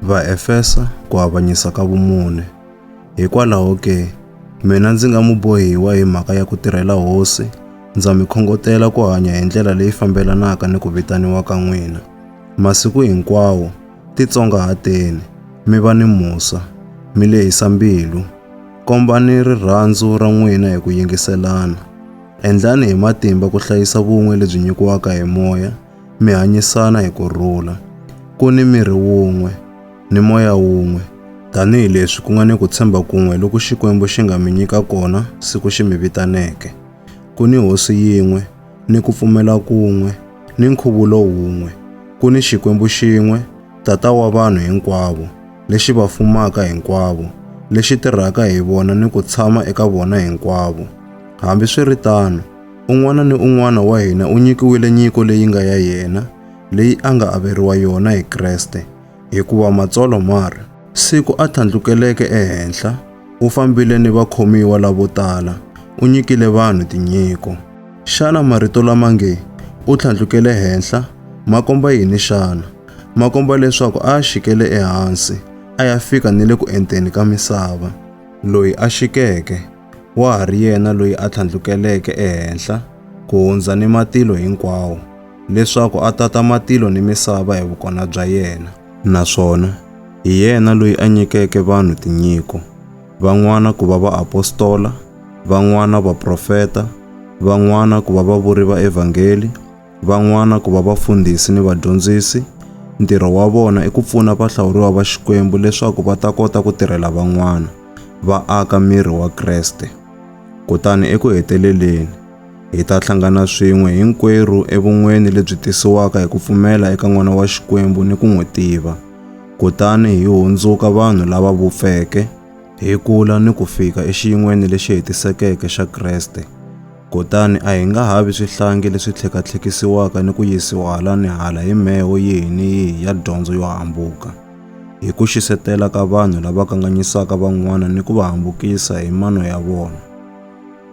Vaefesa ku avanyisa ka vumune. Hikwalaho ke, mina ndzi nga mubohiwa hi mhaka ya ku tirhela Hosi, ndza mi khongotela ku hanya hi ndlela leyi fambelanaka ni ku vitaniwa ka n'wina. Masiku hinkwawo, titsongahateni, mi va ni musa, mi lehisa mbilu, kombani rirhandzu ra n'wina hi ku yingiselana. Endlani hi matimba ku hlayisa vun'we lebyi nyikiwaka hi Moya, mi hanyisana hi ku rhula. Ku ni miri wun'we, ni moya wun'we, tanihi leswi ku nga ni ku tshemba kun'we loku Xikwembu xi nga mi nyika kona siku xi mi vitaneke. Ku ni Hosi yin'we, ni ku pfumela kun'we, ni nkhuvulo wun'we. Ku ni Xikwembu xin'we, Tata wa vanhu hinkwavo, lexi va fumaka hinkwavo, lexi tirhaka hi vona ni ku tshama eka vona hinkwavo. Hambi swi ri tano, Un'wana ni un'wana wa hina u nyikiwile nyiko leyi nga ya yena, leyi a nga averiwa yona hi Kreste, hikuva Matsalwa ma ri, Siku a tlhandlukeleke ehenhla, u fambile ni vakhomiwa lavo tala, u nyikile vanhu tinyiko. Xana marito lama nge, u tlhandlukele henhla, ma komba yini xana? Ma komba leswaku a a xikele ehansi, a ya fika ni le ku enteni ka misava. Loyi a xikeke, wa ha ri yena loyi a tlhandlukeleke ehenhla ku hundza ni matilo hinkwawo, leswaku a tata matilo ni misava hi vukona bya yena. Naswona hi yena loyi a nyikeke vanhu tinyiko, van'wana ku va vaapostola, van'wana vaprofeta, van'wana ku va vavuri va evhangeli, van'wana ku va vafundhisi ni vadyondzisi. Ntirho wa vona i ku pfuna vahlawuriwa va Xikwembu leswaku va ta kota ku tirhela van'wana, va aka miri wa Kreste. Kutani eku heteleleni, hi ta hlangana swin'we hinkwerhu evun'weni lebyi tisiwaka hi ku pfumela eka N'wana wa Xikwembu ni ku n'wi tiva, kutani hi hundzuka vanhu lava vupfeke, hi kula ni ku fika exiyin'weni lexi hetisekeke xa Kreste. Kutani a hi nga ha vi swihlangi leswi tlhekatlhekisiwaka ni ku yisiwa hala ni hala hi mheho yihi ni yihi ya dyondzo yo hambuka. Hi ku xisetela ka vanhu lava kanganyisaka van'wana ni ku va hambukisa hi mano ya vona.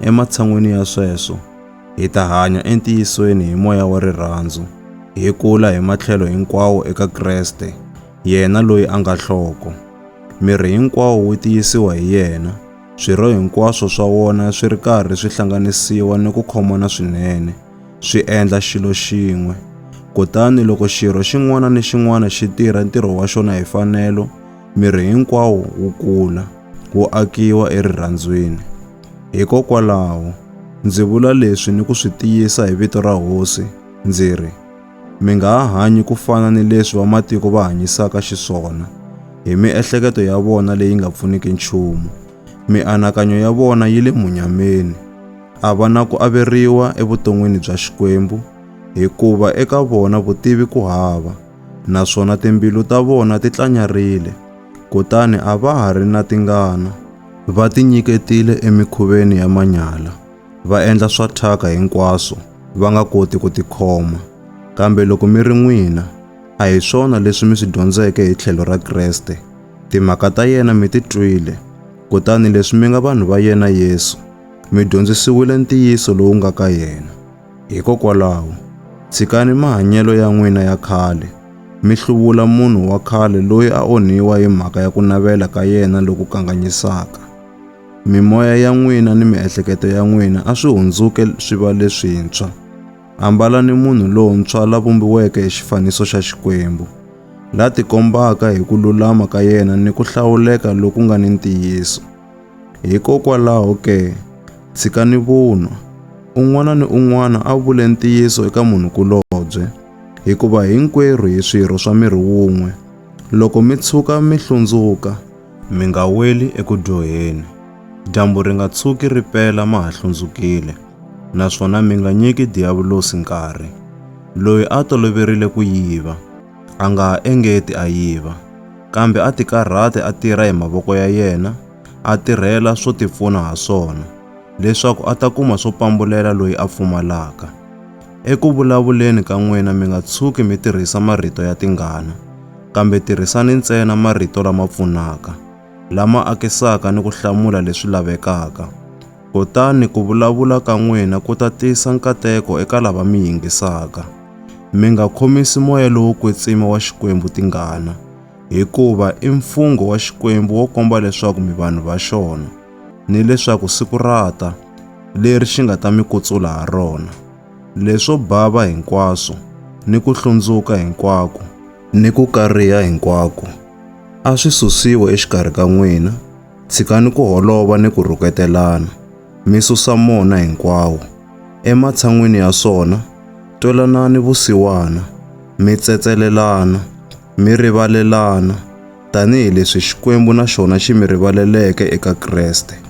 Ematshan'weni ya sweswo, hi ta hanya entiyisweni hi moya wa rirhandzu, hi kula hi matlhelo hinkwawo eka Kreste, yena loyi a nga nhloko. Miri hinkwawo wu tiyisiwa hi yena, Swirho hinkwaswo swa wona swi ri karhi swi hlanganisiwa ni ku khomana swinene, swi endla xilo xin'we. Kutani loko xirho xin'wana ni xin'wana xi tirha ntirho wa xona hi fanelo, miri hinkwawo wu kula, wu akiwa erirhandzwini. Hikokwalaho, ndzi vula leswi ni ku swi tiyisa hi vito ra Hosi, ndzi ri, Mi nga ha hanyi ku fana ni leswi vamatiko va hanyisaka xiswona, hi miehleketo ya vona leyi nga pfuniki nchumu. Mianakanyo ya vona yi le munyameni. A va na ku averiwa evuton'wini bya Xikwembu, hikuva eka vona vutivi ku hava, naswona timbilu ta vona ti tlanyarile, kutani a va ha ri na tingana. Va tinyiketile emikhuveni ya manyala. va endla swa thyaka hinkwaswo va nga koti ku tikhoma. Kambe loko mi ri n'wina, a hi swona leswi mi swi dyondzeke hi tlhelo ra Kreste. Timhaka ta yena mi ti twile, kutani leswi mi nga vanhu va yena Yesu, mi dyondzisiwile ntiyiso lowu nga ka yena. Hikokwalaho, tshikani mahanyelo ya n'wina ya khale, mi hluvula munhu wa khale loyi a onhiwa hi mhaka ya ku navela ka yena loku kanganyisaka. Mimoya ya n'wina ni miehleketo ya n'wina a swi hundzuke swi va leswintshwa. Ambalani munhu lontshwa la vumbiweke hi xifaniso xa Xikwembu, la tikombaka hi ku lulama ka yena ni ku hlawuleka loku nga ni ntiyiso. Hikokwalaho ke, tshikani vunwa. Un'wana ni un'wana a vule ntiyiso eka munhu-kulobye, hikuva hinkwerhu hi swirho swa miri wun'we. Loko mi tshuka mi hlundzuka, Mi nga weli eku dyoheni, dyambu ri nga tshuki ri pela ma ha hlundzukile, naswona mi nga nyiki Diyavulosi nkarhi. Loyi a toloverile ku yiva, a nga ha engeti a yiva, kambe a tikarhate a tirha hi mavoko ya yena, a tirhela swo tipfuna ha swona, leswaku a ta kuma swo pambulela loyi a pfumalaka. Eku vulavuleni ka n'wina mi nga tshuki mi tirhisa marito ya tingana, kambe tirhisani ntsena marito lama pfunaka, lama akisaka ni ku hlamula leswi lavekaka. Kutani ku vulavula ka n'wina ku ta tisa nkateko eka lava mi yingisaka. Mi nga khomisi moya lowo kwetsima wa Xikwembu tingana, hikuva i mfungho wa Xikwembu wo komba leswaku mi vanhu va xona. ni leswaku siku ra ta leri xi nga ta mi kutsula ha rona, leswo bava hinkwaswo ni ku hlundzuka hinkwako ni ku kariha hinkwako a swi susiwe exikarhi ka n'wina, tshikani ku holova ni ku rhuketelana, mi susa mona hinkwawo. Ematshan'wini ya swona, twelanani vusiwana, mi tsetselelana, mi rivalelana, tanihi leswi Xikwembu na xona xi mi rivaleleke eka Kreste.